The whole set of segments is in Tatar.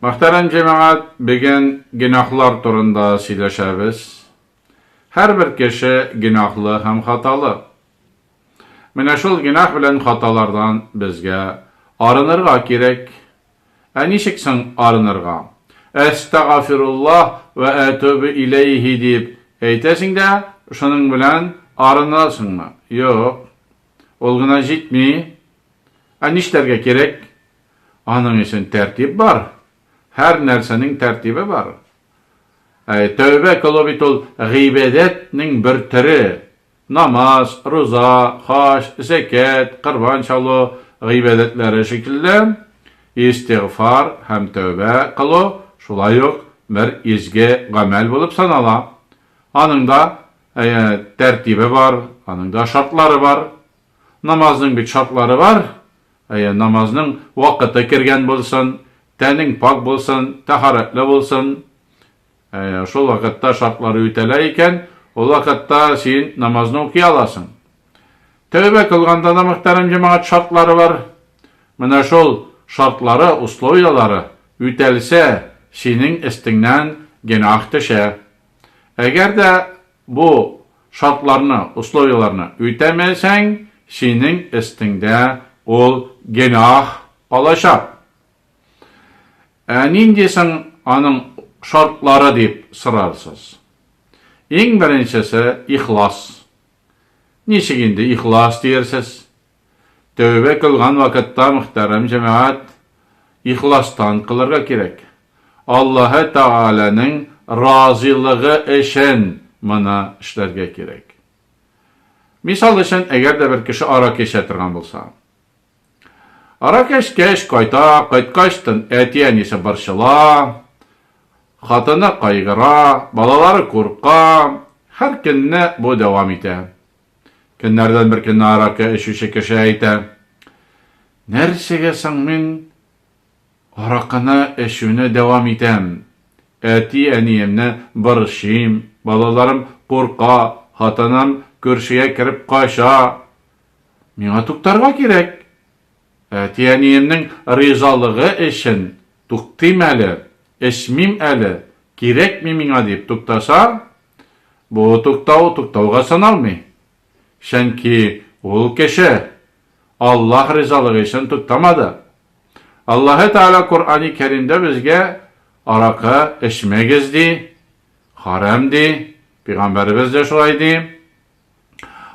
Мөхтәрәм җәмәгать, бүген гөнаһлар турында сөйләшәбез. Һәрбер кеше гөнаһлы һәм хаталы. Менә шул гөнаһ белән хаталардан безгә арынырга кирәк. Ә ничек соң арынырга? Әстәгафируллаһ вә әтүбе иләйһи дип әйтәсең дә, шуның белән арынасыңмы? Юк. Ул гына җитми. Ә нишләргә кирәк? Аның өчен тәртип бар. Һәр нәрсәнең тәртибе бар. Ә тәүбә кылу бит ул гыйбадәтнең бер төре. Намаз, руза, хаҗ, зәкят, корбан чалу гыйбадәтләре шикелле, истигъфар һәм тәүбә кылу шулай ук бер изге гамәл булып санала. Аның да тәртибе бар, аның да шартлары бар. Намазның бит шартлары бар. Әйе, намазның вакыты кергән булсын, тәнең пакь булсын, тәһарәтле булсын. Әйе, шул вакытта шартлары үтәлә икән, ул вакытта син намазны укый аласың. Тәүбә кылганда да, мөхтәрәм җәмәгать, шартлары бар. Менә шул шартлары, условияләре үтәлсә, синең өстеңнән гөнаһ төшә. Әгәр дә Бу шартларны, условияләрне үтәмәсәң, синең өстеңдә ул гөнаһ калачак. Ә нинди соң аның шартлары дип сорарсыз. Иң беренчесе, ихлас. Ничек инде ихлас диерсез? Тәүбә кылган вакытта, мөхтәрәм җәмәгать, ихластан кылырга кирәк. Аллаһы Тәгаләнең разыйлыгы өчен моны эшләргә кирәк. Мисал өчен, әгәр дә бер кеше аракы эчә торган булса. Аракы эчкәч, кайта, кайткач тын, әти-әнисе борчыла, хатыны кайгыра, балалары курка, һәр көнне бу дәвам итә. Көннәрдән бер көнне аракы эчүче кеше әйтә, Нәрсәгә соң мин аракыны эчүне дәвам итәм? Әти-әниемне борчыйм, балаларым курка, хатыным күршегә кереп кача. Миңа туктарга кирәк. Әти-әниемнең ризалыгы өчен туктыйм әле, эчмим әле, кирәкми миңа дип туктаса, Бу туктау туктауга саналмый. Чөнки ул кеше Аллаһ ризалыгы өчен туктамады. Аллаһы Тәгалә Коръәни Кәримдә безгә аракы эчмәгез ди, харам ди, пигамбәребез дә шулай ди.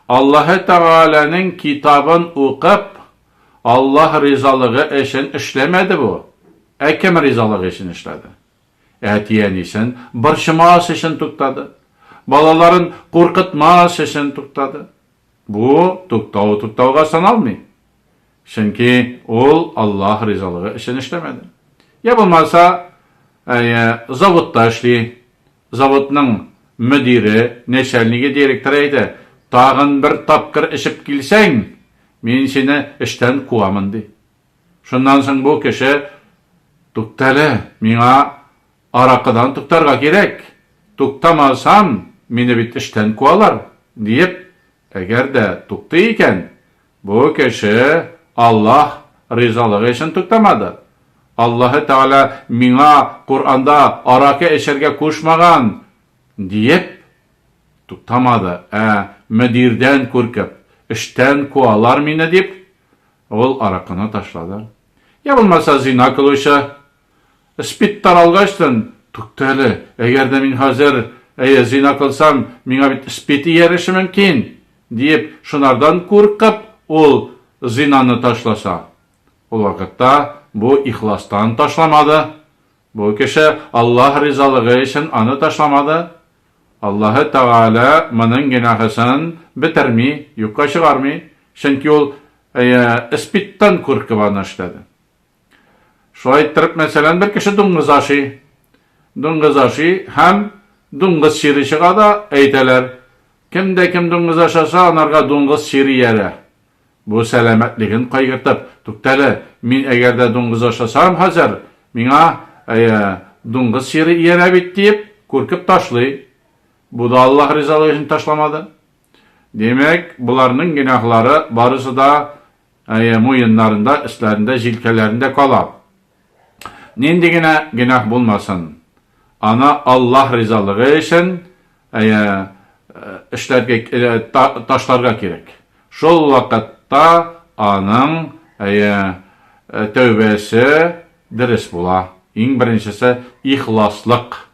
Аллаһы Тәгаләнең китабын укып, Аллаһ ризалыгы өчен эшләмәде бу. Ә кем ризалыгы өчен эшләде? Әти-әнисен борчымас өчен туктады. Балаларын куркытмас өчен туктады. Бу туктау туктауга саналмый. Чөнки ул Аллаһ ризалыгы өчен эшләмәде. Я булмаса, әйе, заводта эшли. Заводның мөдире, нәчәлниге, директоры әйтә, Тагын бер тапкыр эчеп килсәң, мин сине эштән куамын, ди. Шуннан соң бу кеше, Туктале, миңа аракыдан туктарга кирәк, туктамасам, мине бит эштән куалар, диеп, әгәр дә туктый икән, бу кеше Аллаһ ризалыгы өчен туктамады. Аллаһы Тәгалә миңа Коръәндә аракы эчәргә кушмаган, диеп, туктамады, ә мөдирдән куркып, эштән куалар мине дип, Ул аракыны ташлады. Я булмаса зина кылучы. Спид таралгачтын, Тукта әле, әгәр дә мин хәзер, әйе, зина кылсам, миңа бит спид ияреше мөмкин, диеп, шунардан куркып, ул зинаны ташласа? Ул вакытта бу ихластан ташламады. Бу кеше Аллаһ ризалыгы өчен аны ташламады. Аллаһы Тәгалә моның гөнаһысын бетерми, юкка чыгармый, чөнки ул эспидтан куркып аны эшләде. Шулай иттереп, мәсәлән, бер кеше дуңгыз ашый. Дуңгыз ашый һәм дуңгыз чире чыга да, әйтәләр, кем дә кем дуңгыз ашаса, анарга дуңгыз чире иярә. Бу сәламәтлеген кайгыртып, Туктале, мин әгәр дә дуңгыз ашасам хәзер, миңа, әйе, дуңгыз чире иярә бит, диеп, куркып ташлый. Бу да Аллаһ ризалыгы өчен ташламады. Димәк, боларның гөнаһлары барысы да, әйе, муеннарында, өсләрендә, җилкәләрендә кала. Нинди генә гөнаһ булмасын, аны Аллаһ ризалыгы өчен эшләргә, ташларга кирәк. Шул вакытта аның тәүбәсе дөрес була. Иң беренчесе, ихласлык.